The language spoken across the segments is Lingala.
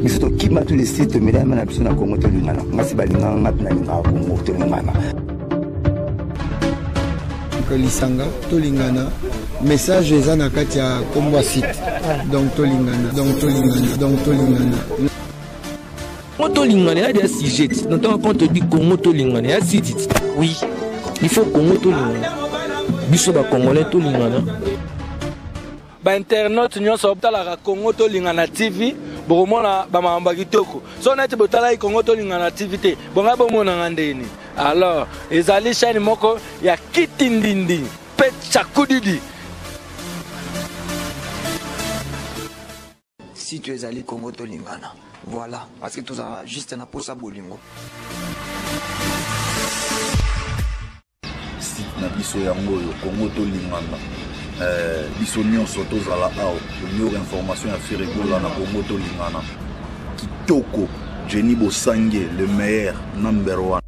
biso tokima tu lesi tomelama na biso na kongo tolingana ngasi balingaka nga mpe nalingaka kongo tolingana lisanga tolingana message eza na kati ya kombo ya site donc tolingana donc tolingana donc tolingana Congo tolingana ya dia sujet na ntango quand on dit Congo tolingana ya site oui il faut Congo tolingana biso ba congolais tolingana ba internautes nyonso botalaka Congo tolingana TV bokomona ba makambo kitoko so neti botalaki Congo tolingana TV te bonga bomonanga ndeni alors ezali chaîne moko ya kitindindi pe chakudidi Si tu ezali Congo tolingana. Voilà, parce que tozala juste na posa bolingo. Site na biso yango oyo Congo tolingana. Eh, biso nyonso tozala awa tomiyoka information ya firigola na Congo tolingana. Kitoko, Jenny Bosange, le meilleur, number one.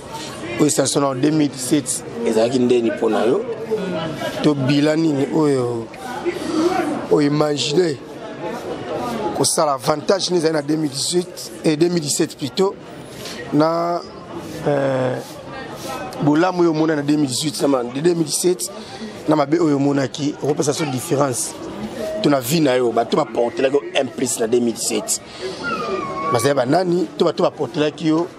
oyo station na 2017 ezalaki ndeni mpo na yo to bila nini oyo oimagine kosala avantage nini ezali na 2018 et 2017 plutôt na euh, bolamu oyo omona na 2018 na 2017 na mabe oyo omonaki okopesa so différence to na vie na yo bato baportelaki yo implice na 2017 bazali banani to bato baportelaki yo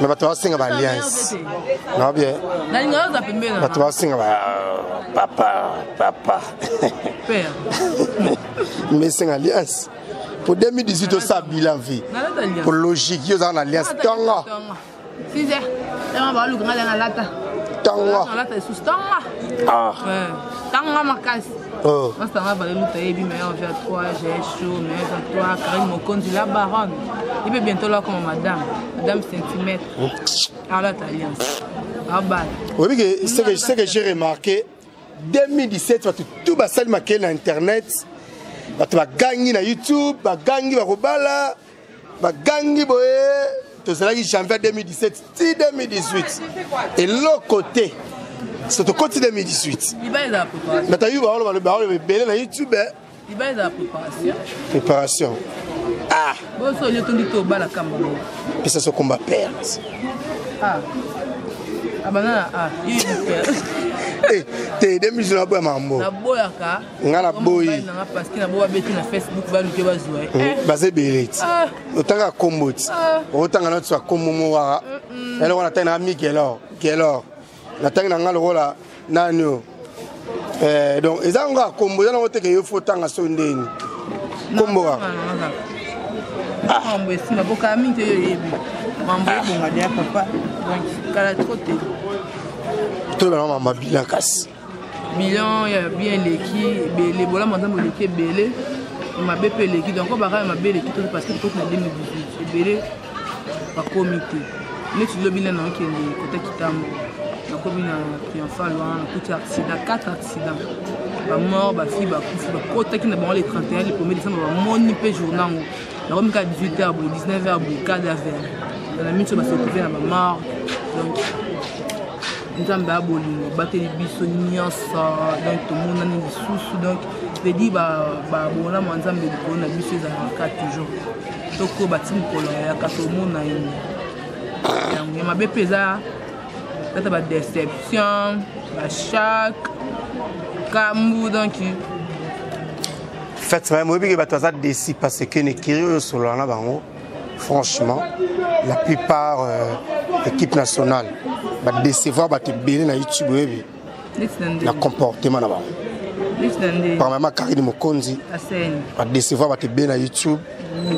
me bato basenga ba alliance na bien bato basenga ba papa papa me esenga alliance po 2018 osa bilan vie po logique yo ozala na alliance tongo 6 heures tanga baluka nga na lata tanga na lata lisusu tanga ah tanga makasi masanga baleluta yebi meilleur vie à toi j'ai chaud meilleur à toi karine mokonzi la baronne ye mpe bientôt lakoma madame madame centimètre alata alliance abala oyebi ke ce que j'ai remarqué 2017 bato tu basali makele na internet bato bagangi na youtube bagangi bakobala bagangi boye tozalaki janvier 2017 ti 2018 eloko te so tokoti 2018 mais toyebi baoloba baoloba ebele na youtube préparation ah pesa so komba père ah. abana ah, ah. te 2018 naboya mambo nga na boyi baza ebele ti otanga kombo ti otanga na tiso ya kombo mo waka eloko natangi na mi gelor gelor natangi na nga lokola nani o eh, donc eza yango kaka kombo eza nango teke yo fo otanga so ndeni kombo kaka mambo esima bokaa mingi te yo oyebi mambo ebonga deya papa kala tro te toyebana mambo abila kasi bilan ya bien eleki ebele bolamu ya nzambe eleki ebele mabe mpe eleki donc oyo bakaya mabe eleki toki parce que tokoti na 2018 ebele bakomi te neti lobi nde naokende kota kitambo nakomi na triomphal wana nakuti accident 4 accident bamort bafille bakufi bakotaki na bango le 31 le 1er décembre bamoni mpe jour nango nakomi kaka 18 heure boye 19 heure boye kada vert na miso basetrouve na bamort donc nzambe ya bolingo abateli biso nyonso donc tomonani lisusu donc pedi babonamo ya nzambe likolo na biso ezalaka toujours toko bati mokolo yaka tomona ye yango ya mabe mpe eza tata badeception bachake kambu donc fati maye moyebi ke bato baza desi parce que nekiri oyo osolola na bango franchement la plupart euh, équipe nationale badecevoir bato ebele na youtube oyebi na comportement na bango premièrement karine mokonzi badecevoir bato ebele na youtube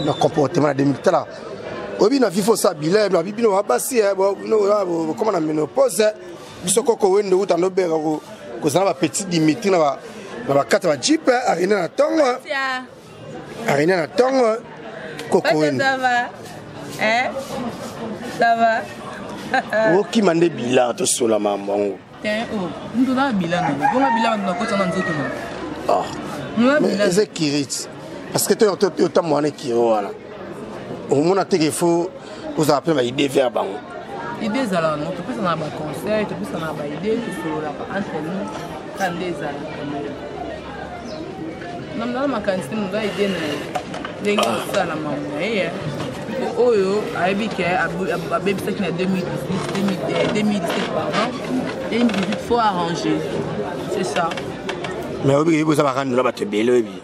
na comportement na 2000 tala oyebi na vifo sa bilaye na bibino babasi bokoma na menopause biso koko wende uta nobengako kozala bapetit dimitri na bakati ya bajipe arena na ntongo Arena na tongo kokoen. Ça va. Hein? Ça va. okima nde bilan tosola mambo yango ndoza bilan nango bonga bilan nakota na nzoto nango eza kirite parce que totambo wana ekiro wana omona teke fo kozala mpe na baide vers bango ide ezalaka no topesana na baconseil topesana na baide tosololaka entre nous ka nde ezalaka namdala makanisi te moza ide na ye ndenge kosala mamu na ye oyo ayebi ke abebisaki na 2017 pardon 2018 faut arranger c'est ça mais oyebi koyebi oza bakandola bato ebele oyebi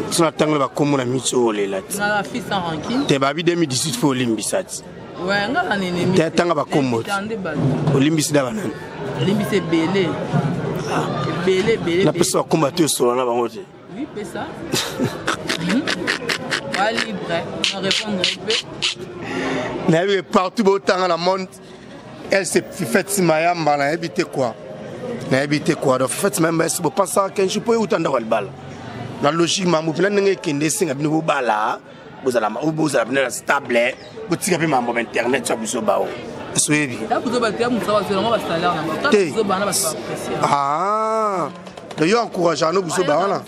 so natangoli bakombo na miso oyo olela ti te babi 2018 mpo olimbisa ti te atanga bakombo ti olimbisi da banani napesa bakombo ati osola na bango te nayebi partout botanga na monde Elle c'est Fifette Mayamba na habité quoi Na habité quoi Donc Fifette Mayamba est-ce que vous pensez qu'un jour peut utanda walbala Na logique mambo pila ndenge kende singa bino bobala bozala bozala bino na stable botika pe mambo internet ya biso bao soyebi te ah. te yo encourage ano buzoba wana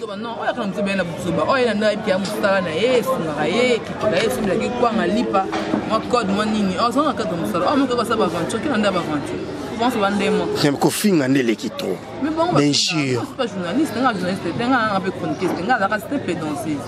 kwanga lipa mwa code mwa nini ozanga kaka mosala oyo mokoki kosala baventure kina nde baventure pense ba nde moko kofinga nde eleki to bien sûr nga journaliste nga journaliste te nga nga mpe chroniquiste nga azalaka te pedanseuse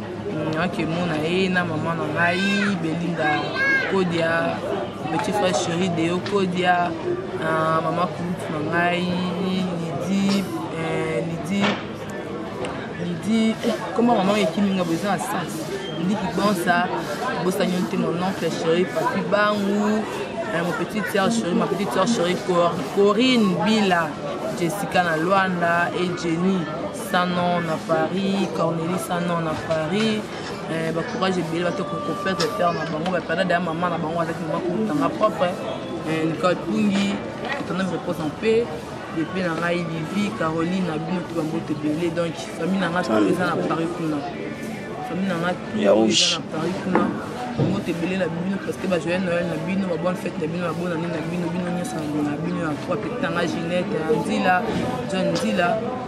akemona ye na mama na ngai belinda kodia petit frère chéri deo kodia ah, mama kulutu na ngai lidi eh, lidi lidi eh, koma mama ekimi nga boza na sens ndiki bonsa bosani yo te mon oncle chéri papi bangu eh, mon petite sœur chéri ma petite sœur chéri corinne bila jessica na luanda et jenny sanon na paris corneli sanon na paris eh, bacourage ebele bate kokopete pere na bango bapeda daya mama na bango azaki mama kotanga propre eh, nicole pungi etanda repose en paix epe na ngai livi caroline na bino to bamboto ebele donc famille na ngai to eza na paris kuna famille na ngai to eza na paris kuna mboto ebele na bino parceke bajoye noel na bino babone fete na bino babona nini na bino bino nyonso na bino ya trois pete na ngai ginete nzila john nzila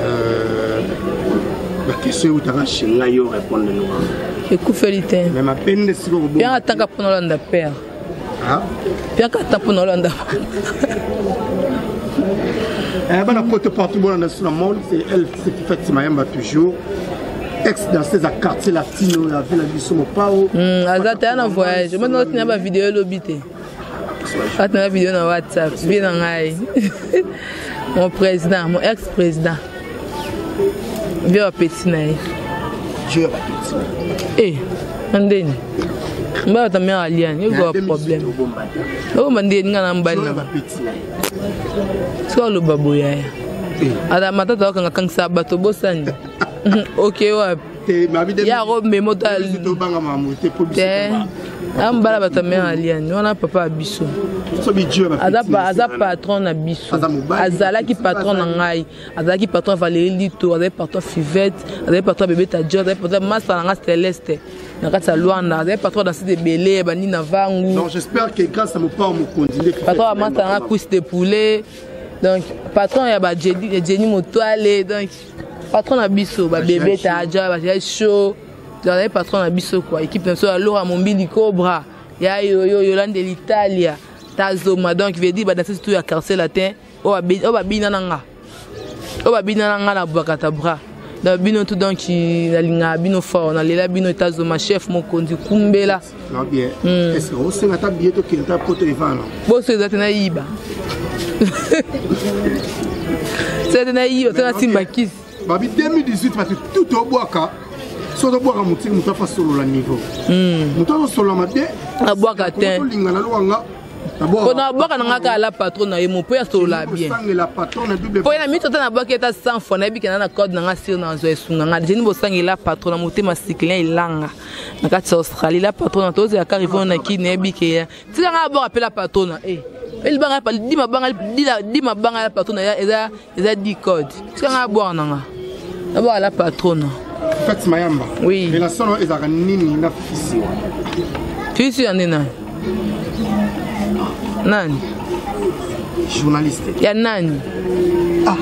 Euh, bakestion eutaka chez ngai yo répondre noa ekufeli te me mapende sikoyanga atanga mpo na olanda père piaka ata mpo na olanda eh, bana poto partout bolanda sous la monde c'est elle c'est qui fait mayamba toujours ex danseuse ya quartier latino ya ville ya biso mopao hmm, aza te ya na voyage omoni otina bavideo elobi te atanga video na whatsapp vie na ngai mon président mon ex président vie ya bapeti na ye e na ndeni mbala tamia aliani ekoa problème obomba ndeni nga na mbali na soki aloba boyaya ata matata okanga kangisa bato bosani oke wapi yako memo te amobala bato ya mère aliane wana papa ya biso aza patron na biso azalaki patron na ngai azalaki patron ya valerie lito azalaki patron ya fivette azalaki patron ya bebe tadio azalaki patron ya masta na ngai celeste na kati ya luanda azalaki patron na site ebele bandi na vangu patron ya masta na ngai cuisse de poulet donc patron ya bajeni motwale donc patron na biso babebe taja bazali show tozalaki patron na biso kua équipe na biso ya lora mombili cobra ya yoyo yolande l'italia tazoma donc veut dire badanse surtout ya quartier latin oyo babina na nga oyo babina na nga na bwakata bras na bino tout donc nalingaka bino fort nalela bino etazoma chef mokonzi kumbela hmm. boso eza te nayiba eza te nayiba to nasimba kisi babi 2018 bato tout obwaka soki tobwaka motiki moto afa solola niveau hmm. moto azosolola mabe abwaka te olingana loka nga mpona abwaka na nga kaka la patron na ye mo mpo yasolola bien mpo ye na mito ata nabwaki ata 100 fois nayebi kenda na code na nga sire na azwa esunga nga dejeni bosangela patron na motema sikilin elanga na kati ya australie la patrona tozela kaka ivona na kini nayebi keya tika ngai abor apela patrona e elibanga di mabanga di mabanga ya patrona eza eza di code tika ngai abor na nga abor la patrona fati mayamba oui ela solo ezalaka nini na fisiwa fisiwa nde nayo nani journaliste ya nani ah.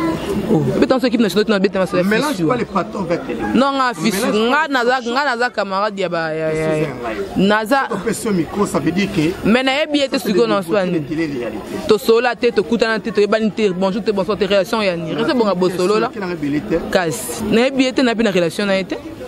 oh. beta nso ekipe nationale tunabeta maso ya non nga fisu nga naza camarade ya ba naza mais nayebi ye te sikoyo na nso yani tosolola te tokutana te toyebani te bonjour te bonsoir te relation ya nini rese bonga bosolola kasi nayebi ye te nayebi na relation na ye te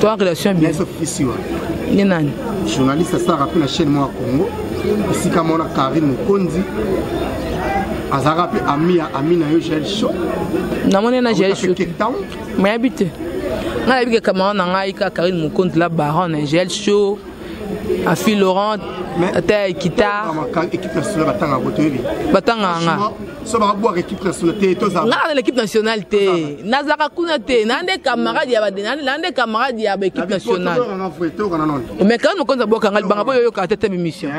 toa relation bien nde nani journaliste asala mpe na chaîne moko ya congo esika mona karine mokonzi azalaka mpe ami ya ami na yo jael sho namoni na jael sho mayabi te ngai nayebi ke camarade na ngai kaka karine mokonzi la baron na jael sho afi laurent ata ya ekita batanganga nga na l'équipe nationale te nazalaka kuna te na nde camarade na nde camarade ya baéquipe nationale mais karine mokonzi abwaka nga libanga boyoyoka te te mimission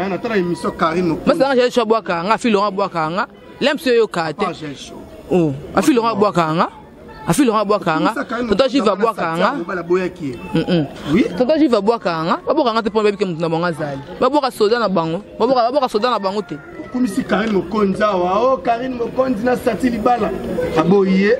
masanga jali sho abwaka nga afi laurent abwaka nga lemps yo yoka te oh afi longa bwaka nga afi longa bwaka nga toto jiva bwaka nga toto jiva bwaka nga babwaka nga te mpo bayebi ke moto na bango azali babwaka soda na bango babwaka soda na bango te okumisi karine mokonzi awa o oh, karine mokonzi na sati libala aboyi ye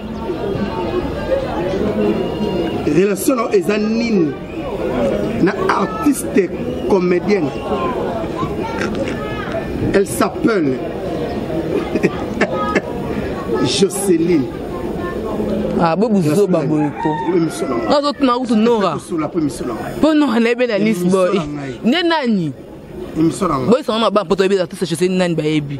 relation na eza nini na artiste comédienne elle s'appelle joceline ah, bo buzoba boye ko nazotuna kutu nora mpo nora nayebi na lisboy nde nani boyisanga na bana mpo toyebi artiste joceline nani bayebi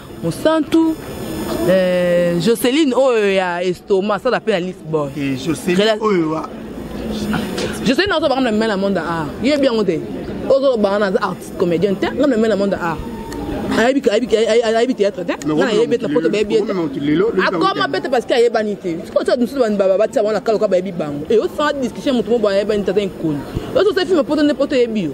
mosantu eh, joceline oyo oh, ya estoma asala mpe na lisbonne eh, joceline oyo oh, joceline azo banga na mimela monde a yebi yango te ozo banga na aza artiste comédien te nga na mimela monde a ayebi théâtre te nga nayebi ete na poto bayebi ete akoma pete parce que ayebani te sikotia mosusu batia bango na kaloka bayebi bango e osanga discussion moto mo boye ayebani te aza nkoni ozo osali filme poto nde poto eyebi yo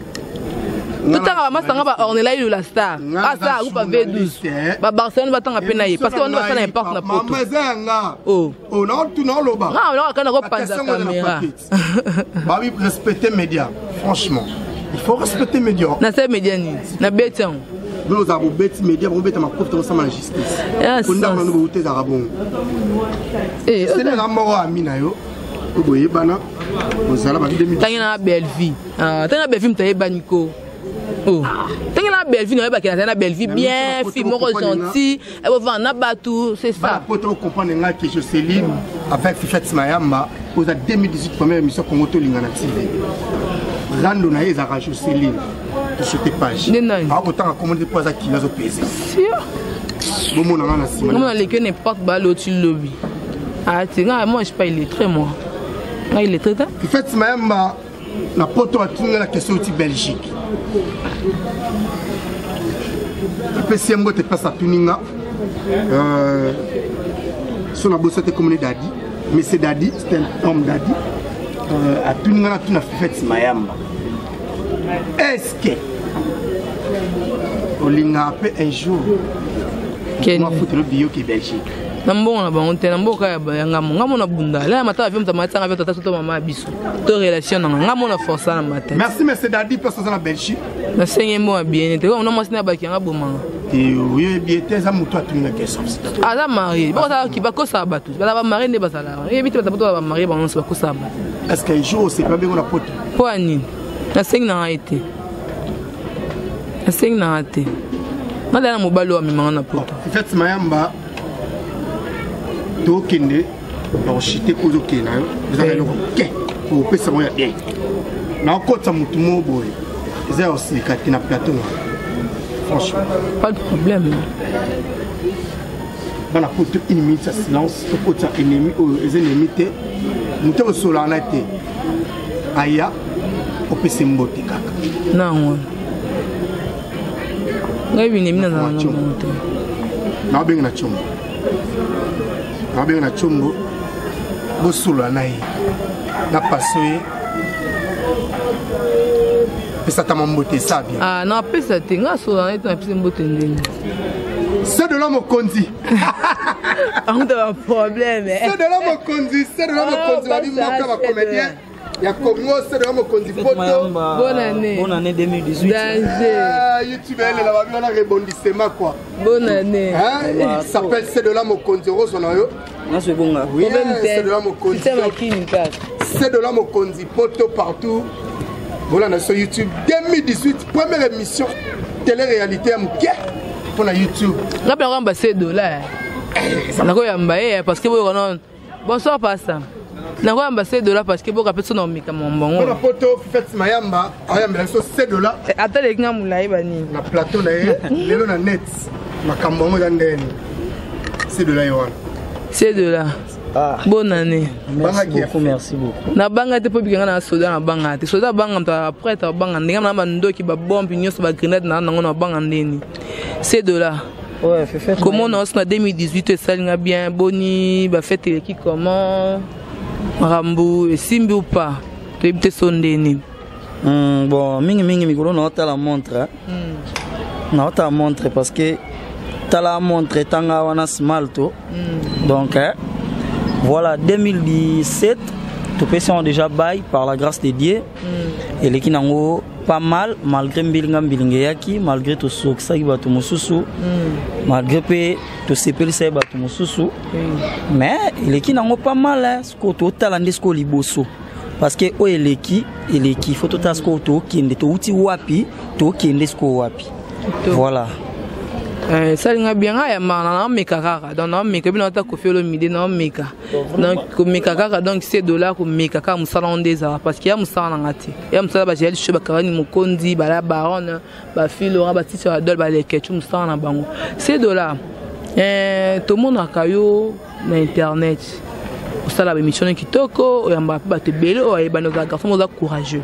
totanga bamasanga ba ornela ilo la star asa akupa v12 babarcelone batanga mpe na ye parce que bana basala imparte na potonaolobanga oh. oh, kana kopanza kamera babi respecte média franchement il faut respecter média na se média nini na beti yango bino ozala bobeti média bobeta makofi to osama na justice kondako nano bouta ezalaka bongo eh, seleka moko ami na yo oyo boyebana ozala batangi na bellevie Ah, tanga Bellevue mutaye bani ko. Oh. Tanga na Bellevue na yeba kena na Bellevue bien fille moko gentil. Et bon na batu c'est ça. Pour toi comprendre nga que je Céline avec Fifette Mayamba aux 2018 première émission Congo to lingana TV. Rando na yeza ka Jocelyn. Sur tes pages. Ah, autant à commander pour ça qui va se peser. Sûr. Bon mon na sima. Mon na leke n'importe ba l'autre lobby. Ah, tu nga moi je suis pas illettré moi. Nga illettré ta? Fifette Mayamba na poto atuni nga na question uti belgique apesi ye mbote place atuni nga euh, so na bosi ate komone dadi monsieur dadi c'est un homme dadi euh, atuni nga natuna fifete mayamba est ce que olingaka mpe un jour mafutelo biyoki belgique na mbongo na bango te na mboka ya ngambo ngambo na bunda laya matala vio moto amatanga vio tata soto mama ya biso to relation nanga nga mona force na mata merci monsieur dadi place oza na belgique na senge mo bien te ko na mwasi na baki nga bomanga yo ye bien te za mutu atuni na question aza marié bo za ki ba ko sa batu ba ba marié ne ba za la ye bitu ba batu ba marié ba nso ba ko sa ba est ce que jour c'est pas bien na pote po ani na senge na été na senge na été na dana mobali wa mimanga na poto fete mayamba tokende bakoshite ozo kende na yo eza na eloko moke okopesa bango ya bien nakokotisa motu moko boye eza ya osilika te na plateau na franchement pas de problème bana poto une minute ya silence tokotisa ennemi oyo eza ennemi te moto osolana te aya opesa mbote kaka nango ngai binemi nazala na bango te naobengi na tshombo abenga na combo bosolola na ye na paso ye pesatama mbote esa bien ah, na apesa te nga asolola na ye te napesi mbote ndenge se de la mokonzi amuta baproblème se de la mokonzi se de la mokonzi babi moka bacomédien ya congo sede ya mokonzi poto bonane bonane 2018 danger ah, youtube elela babi wana rebondissement quoi bonane s'appelle sede la mokonzi okozwa na yo naso ebonga sede la mokonzi sede la mokonzi poto partout bolanda biso youtube 2018 première émission télé réalité ya moke mpo na youtube ngapela koyamba se dola eh, nakoyamba ye eh, parce que boyoka nano Bonsoir pasta. nakoyamba se dola parce que boka mpe so na omeka mambongona poto fete mayamba ayambela biso se dola eh, ata leki nga molai banini na plateau na ye lelo na net makambo yango eza ndeni se dola ye wana se dola Ah. bonne année merci beaucoup merci beaucoup nabanga te mpo bikanga na soda nabanga te soda abanga moto aprete abanga ndenge na bandoki babombe nyonso bagrenade na nango nabanga ndeni se dola komona osi na 2018 esali nga bien boni bafete eleki comment makambo esimbi upa toyebi te so nde nini hmm, bon mingimingi mikolo naotala montre hmm. naotala montre parce que tala montre etanga wana smalto hmm. donc eh, voilà 2017 topesi yango déjà bail par la grâce de dieu mm. eleki nango pas mal malgré mbilinga mbilinga eyaki malgré tosokisaki bato mosusu mm. malgré mpe tosepelisaki bato mosusu mm. mais eleki nango pas mal eh. sikoyo totala nde sikoyo liboso parce que oyo eleki eleki fo totala sikoyo tokende touti wapi tokende sikoyo wapi voilà esalinga eh, bianga ya mana naomeka kaka donc naomeka ebi naota kofi olomide naomeka donc komeka kaka donc se dollar komeka kaka mosala ngo nde ezala parce que ya mosala na nga te ya mosala bajeya lisho bakarani mokonzi bala barone bafilora batisi ya dole balekecu mosala na bango se dollar eh, tomonaka yo na internet osala baémission kitoko oyambaka mpe bato ebele oyo ayebani oza garçon oza courageux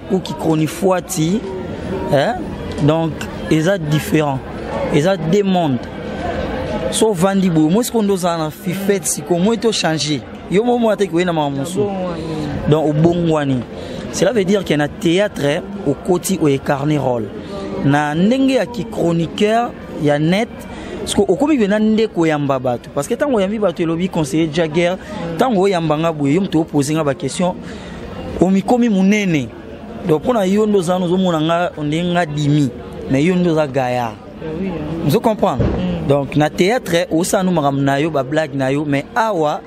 ou qui chronifuati hein? donc eza différent eza deux monde so ovandi boye omoi sikoyo nde ozala na fifete sikoyo omoi te ochange yo mo omona te koyei na makambo mosusu donc obongwani cela veut dire ke na théâtre okoti oecarne role na ndenge ya kichroniqueur ya net siko okomi mpenza nde koyamba bato parce que ntango oyambi bato elobi conseiller jagger ntango oyamba nga boye yo moto opose nga baquestion omikomi munene donc mpo na yo nde oza wana ozomona nga ondenge nga dimi mais yo nde oza gaya ozo comprendre mm. donc na théâtre osala no makambo na yo bablague na yo mais awa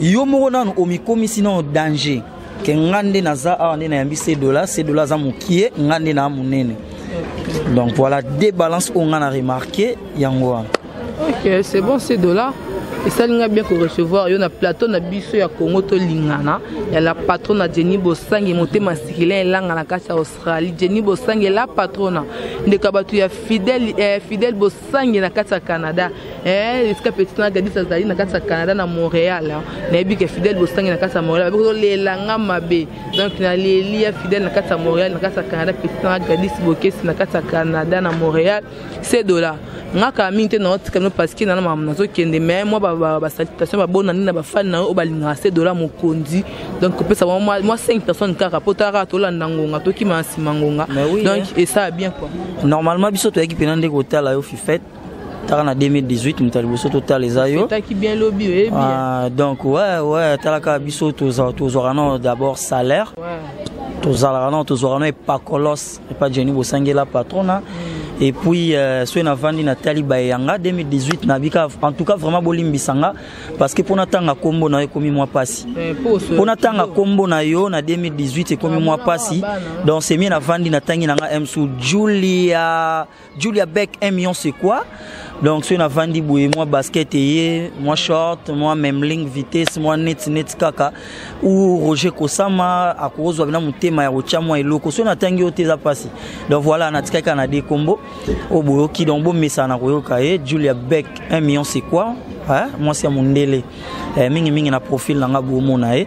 yo moko nanu omikomisi nano danger ke nga nde naza awa nde nayambi sedola sedola aza mokie nga nde naa monene donc voilà de balance oyo nga na remarke yango wana ok c'est bon c'est dollar esali ngai bien korecevoir yo na plateau na biso ya congo tolingana ya la patrona jenny bosangi motema sikilin elanga na kati ya australie jenny bosangi la patrona ndeko ya bato ya fidèle eh, fidèle bosangi na kati ya canada eh, esika petit na gadis azali na kati ya canada na montréal nayebi ke fidèle bosangi na kati ya montréal babi kozolela nga mabe donc naleli ya fidèle na kati ya montréal na kati ya canada petit na gadis bokesi na kati ya canada na montréal se dola nga kala mingi te naotika bino parce que nana makambo nazokende mais mwa basalitation babonani na bafani na yo oyo balingaka se dola mokonzi donc kopesa bango mwa 5 personnes kaka mpo tala kaka tolanda ngonga tokima na nsima ngonga donc esala bien quoi normalement biso toyaki mpena nde kotala yo fifete taka na 2018 moto ya liboso totala eza yo ah, donc ouais ouais talaka biso tozwaka nao d'abord salaire tozalaka nao tozwaka nao epakolos epa jeni bosangela patrona mm. et puis euh, soki navandi natali baye yanga 2018 nabika en tout cas vraiment bolimbisa nga parce que mpo natanga nkombo na yo ekomi mwa mpasi eh, mpo natanga nkombo na yo na 2018 ekomi mwa mpasi donc semie navandi natangi na nga msu julia Julia Beck 1 million c'est quoi donc soki navandi boye mwa basket eye mwa short mwa memling vitesse mwa neti neti kaka ou roger kosama akozwa bina motema ya kotya mwa eloko soki natangi yo te eza mpasi donc voilà natikaki kaka na de kombo oyo boyoki donc bomesana na koyoka ye julia beck 1 million c'est quoi mwasi ya mondele eh, mingimingi na profil na nga bomona ye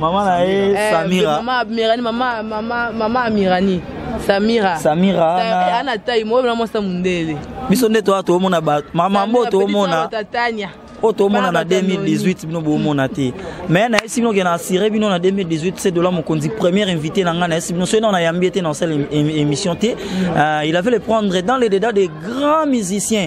Maman na ye eh, Samira. Maman Amirani, maman maman maman Amirani. Samira. Samira. Ana, ana taille moi vraiment ça mundele. Biso nde toi to mona ba maman mbo to mona. Tania. oyo tomona na 2018 bino bomona te mais nayesi bino ke na assire bino na 2018 se dola mokonzi première invité na ngai nayesi bino soki nao nayambi ye te na osala émission te euh, il avait le prendre dans les dédats des grands musiciens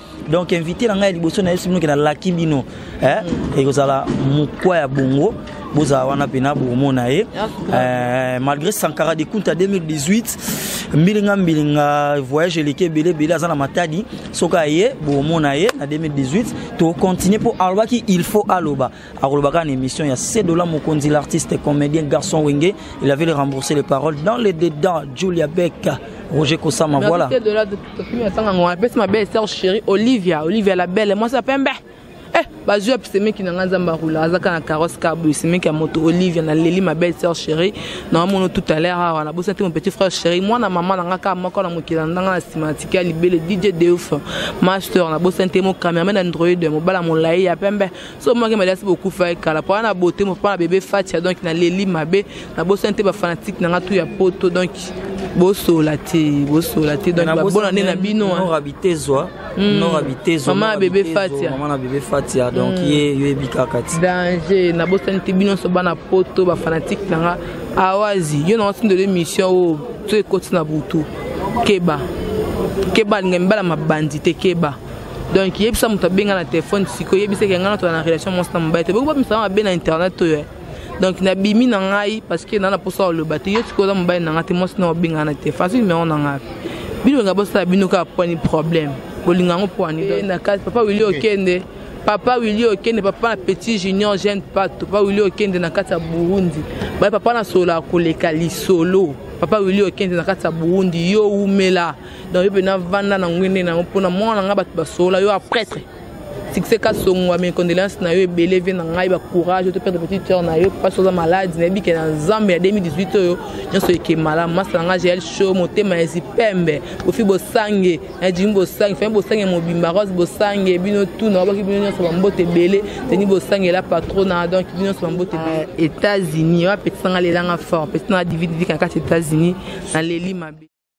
donc invité na ngai ya liboso na yesu bino ke nalaki bino eh, mm. ekozala mokwa ya bongo bozala wana mpena bokomona ye eh, malgré sankara de kunta 2018 mbilinga mbilinga voyage eleki ebele ebele aza na matadi soki aye bokomona ye na 2018 tokontinue mpo alobaki il faut aloba akolobaka na émission ya sedola mokonzi l'artiste comédien garçon wenge il avait remboursé les paroles dans les dedans julia beck roger kosama voilà apesi mabe estar chéri olivia olivia la belle mwasi ya pembe eh, bazwi ya semeki na ngai nzambe arula azaka na carrosse kaboye semeki ya moto olivia na leli ma belle sœur chérie na wamono tout à l'heure awa nabosa te mon petit frère chéri mwana mama na ngai kaka moko na mokili na ndanga na nsima natiki ya libele dj deuf master nabosani te mo cameraman android mobala molai ya pembe so maki maliasi bokufa ye kala mpo na bote mpo na bebe fatia donc naleli mabe nabosani te bafanatike na nga tu ya poto donc bosola te bosola te donc babona nde na bino norabitezwa hmm. norabitezwa mama bebe fatia mama na bebe fatia donc hmm. ye yo yebi kaka ti danger nabosani te bino nyonso bana poto bafanatike na nga awazi yo na watindelo émission oyo oh, to ekoti na butu keba keba alinga mibala mabandi te keba donc yebisa moto abenga na telefone sikoyo yebisa ke ngai natola na relation mwasi na mobali te boki bamisala mabe na internet oyo eh. donc nabimi na ngai parce que naa na mposa oloba te yo sikoyo oza mobali na ngai te mwasi na obenga na telefone azi numero na ngai bino nga bosala bino kaka pwani problème bolinga yango pwani eh, na kati papa wili okende okay. papa wili okende papa na petit junior jeune pato papa wili okende na kati ya burundi baye papa na solo akoleka lisolo papa wili okende na kati ya burundi yo wumela donc yo mpe navanda na ngwende na yango mpo na mwana na ngai bato basolola yo apretre succès kasongo mes condoléances na yo ebele vie na ngai ba courage oto perdre petite sœur na yo papa soza malade na yebi ke na nzambe ya 2018 oyo nyonso eke malamu masa na ngai jael show motema ya zipembe bofi bosange na jimi bosange fami bosange mobimba rose bosange bino tu na wabaki bino nyonso bambote ebele teni bosange la patrona donc bino nyonso bambote ebele ah, états-unis oyo apetisa ngai lelanga fort apetisa ngai dividivika na kati états-unis na leli mabe